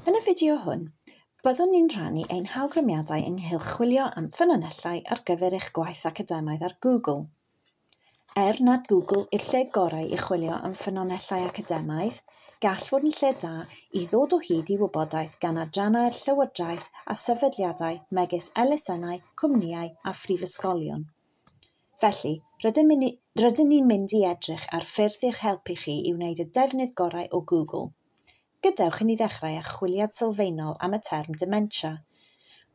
Yn y fideo hwn, byddwn ni'n rhannu ein hawgrymiadau ynghylch chwilio am ffynonellau ar gyfer eich gwaith academaidd ar Google. Er nad Google yw'r lle gorau i chwilio am ffynonellau academaidd, gall fod yn lle da i ddod o hyd i wybodaeth gan adrannau'r llywodraeth a sefydliadau megis elusennau, cwmnïau a phrifysgolion. Felly, rydym ni, rydyn ni'n mynd i edrych ar ffyrdd i'ch helpu chi i wneud y defnydd gorau o Google. Gadewch i ni ddechrau â chwiliad sylfaenol am y term dementia.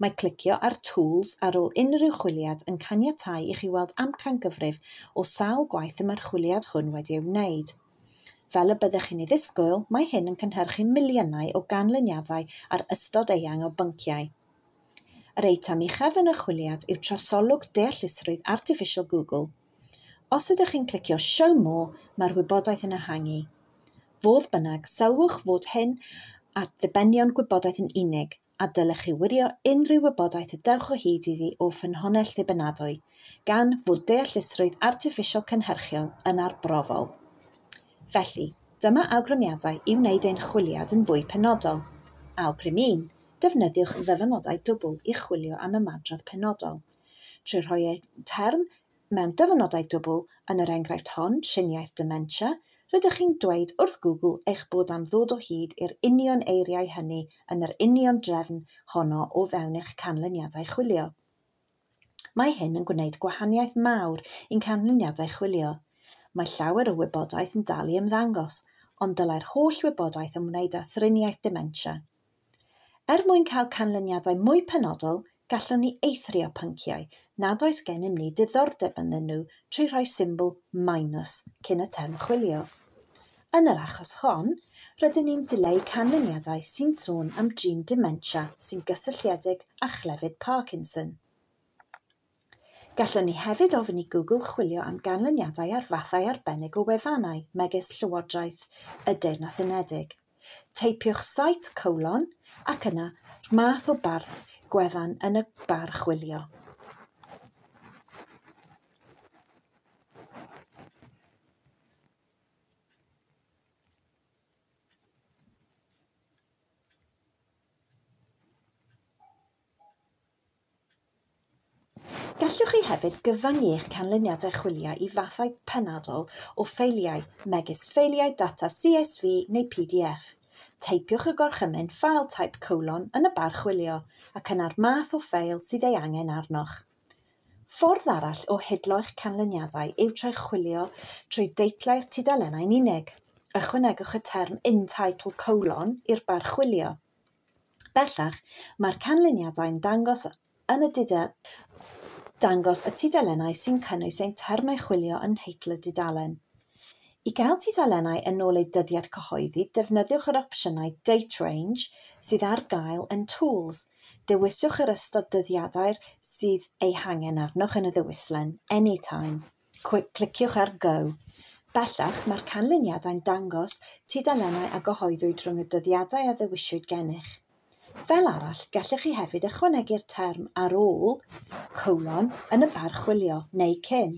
Mae clicio ar Tools ar ôl unrhyw chwiliad yn caniatáu i chi weld amcangyfrif o sawl gwaith y mae'r chwiliad hwn wedi ei wneud. Fel y byddech chi'n ei ddisgwyl, mae hyn yn cynhyrchu miliynau o ganlyniadau ar ystod eang o bynciau. Yr eitem uchaf yn y chwiliad yw trosolwg deallusrwydd artiffisial Google. Os ydych chi'n clicio Show More, mae'r wybodaeth yn ehangu. Fodd bynnag, sylwch fod hyn at ddibenion gwybodaeth yn unig, a dylech chi wirio unrhyw wybodaeth y dewch o hyd iddi o ffynhonnell ddibynadwy, gan fod deallusrwydd artiffisial cynhyrchiol yn arbrofol. Felly, dyma awgrymiadau i wneud ein chwiliad yn fwy penodol. Awgrym 1, Defnyddiwch ddyfynodau dwbl i chwilio am ymadrodd penodol, trwy rhoi eu term mewn dyfynodau dwbl, yn yr enghraifft hon, triniaeth dementia, rydych chi'n dweud wrth Google eich bod am ddod o hyd i'r union eiriau hynny yn yr union drefn honno o fewn eich canlyniadau chwilio. Mae hyn yn gwneud gwahaniaeth mawr i'n canlyniadau chwilio. Mae llawer o wybodaeth yn dal i ymddangos, ond dylai'r holl wybodaeth ymwneud â thriniaeth dementia, Er mwyn cael canlyniadau mwy penodol, gallwn ni eithrio pynciau nad oes gennym ni diddordeb ynddyn nhw trwy rhoi symbol minus cyn y term chwilio. Yn yr achos hon, rydyn ni'n dileu canlyniadau sy'n sôn am drin dementia sy'n gysylltiedig â chlefyd Parkinson. Gallwn ni hefyd ofyn i Google chwilio am ganlyniadau ar fathau arbennig o wefannau, megis Llywodraeth y Deyrnas Unedig. Teipiwch site colon ac yna 'r math o barth gwefan yn y bar chwilio. Gallwch chi hefyd gyfyngu eich canlyniad a chwilio i fathau penodol o ffeiliau, megis ffeiliau data CSV neu pdf. Teipiwch y gorchymyn File Type colon yn y bar chwilio ac yna'r math o ffeil sydd ei angen arnoch. Ffordd arall o hidlo eich canlyniadau yw trwy chwilio trwy deitlau'r tudalennau'n unig. Ychwanegwch y term In Title colon i'r bar chwilio. Bellach, mae'r canlyniadau'n dangos yn y dangos y tudalennau sy'n cynnwys ein termau chwilio yn nheitl y dudalen. I gael tudalennau yn ôl eu dyddiad cyhoeddi, defnyddiwch yr opsiynau Date Range sydd ar gael yn Tools. Dewiswch yr ystod dyddiadau'r sydd eu hangen arnoch yn y ddewislen Anytime. Cliciwch ar Go. Bellach, mae'r canlyniadau'n dangos tudalennau a gyhoeddwyd rhwng y dyddiadau a ddewiswyd gennych. Fel arall, gellwch chi hefyd ychwanegu'r term ar ôl, colon, yn y bar chwilio, neu cyn.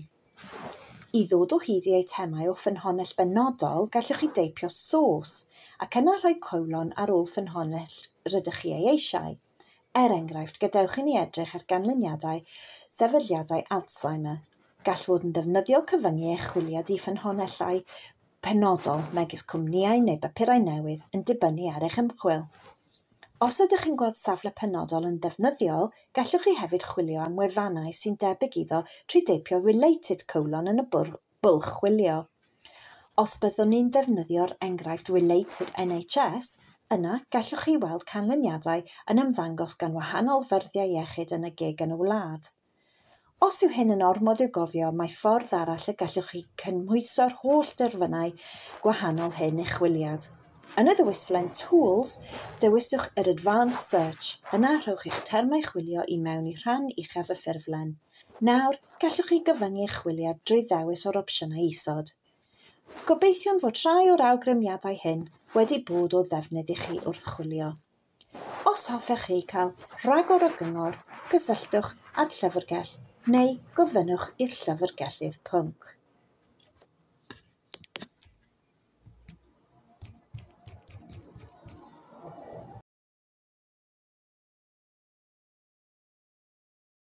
I ddod o hyd i eitemau o ffynhonnell benodol, gellwch chi deipio source, ac yna rhoi colon ar ôl ffynhonnell rydych chi ei eisiau, Er enghraifft, gadewch i ni edrych ar ganlyniadau sefydliadau Alzheimer. Gall fod yn ddefnyddiol cyfyngu eich chwiliad i ffynhonnellau penodol, megis cwmnïau neu bapurau newydd, yn dibynnu ar eich ymchwil. Os ydych chi'n gweld safle penodol yn ddefnyddiol, gallwch chi hefyd chwilio am wefannau sy'n debyg iddo trwy deipio 'related' yn y bwrdd bwlch chwilio. Os byddwn ni'n defnyddio'r enghraifft Related NHS, yna gallwch chi weld canlyniadau yn ymddangos gan wahanol ffyrddie iechyd yn y gig yn y wlad. Os yw hyn yn ormod i'w gofio, mae ffordd arall y gallwch chi cynhwyso'r holl derfynau gwahanol hyn i'ch chwiliad. Yn y ddewislen Tools, dewiswch yr Advanced Search, yna rhowch eich termau chwilio i mewn i rhan uchaf y ffurflen. Nawr, gallwch chi gyfyngu chwiliad drwy ddewis o'r opsiynau isod. Gobeithiwn fod rhai o'r awgrymiadau hyn wedi bod o ddefnydd i chi wrth chwilio. Os hoffech chi cael rhagor o gyngor, cysylltwch â'r llyfrgell neu gofynnwch i'r llyfrgellydd pwnc.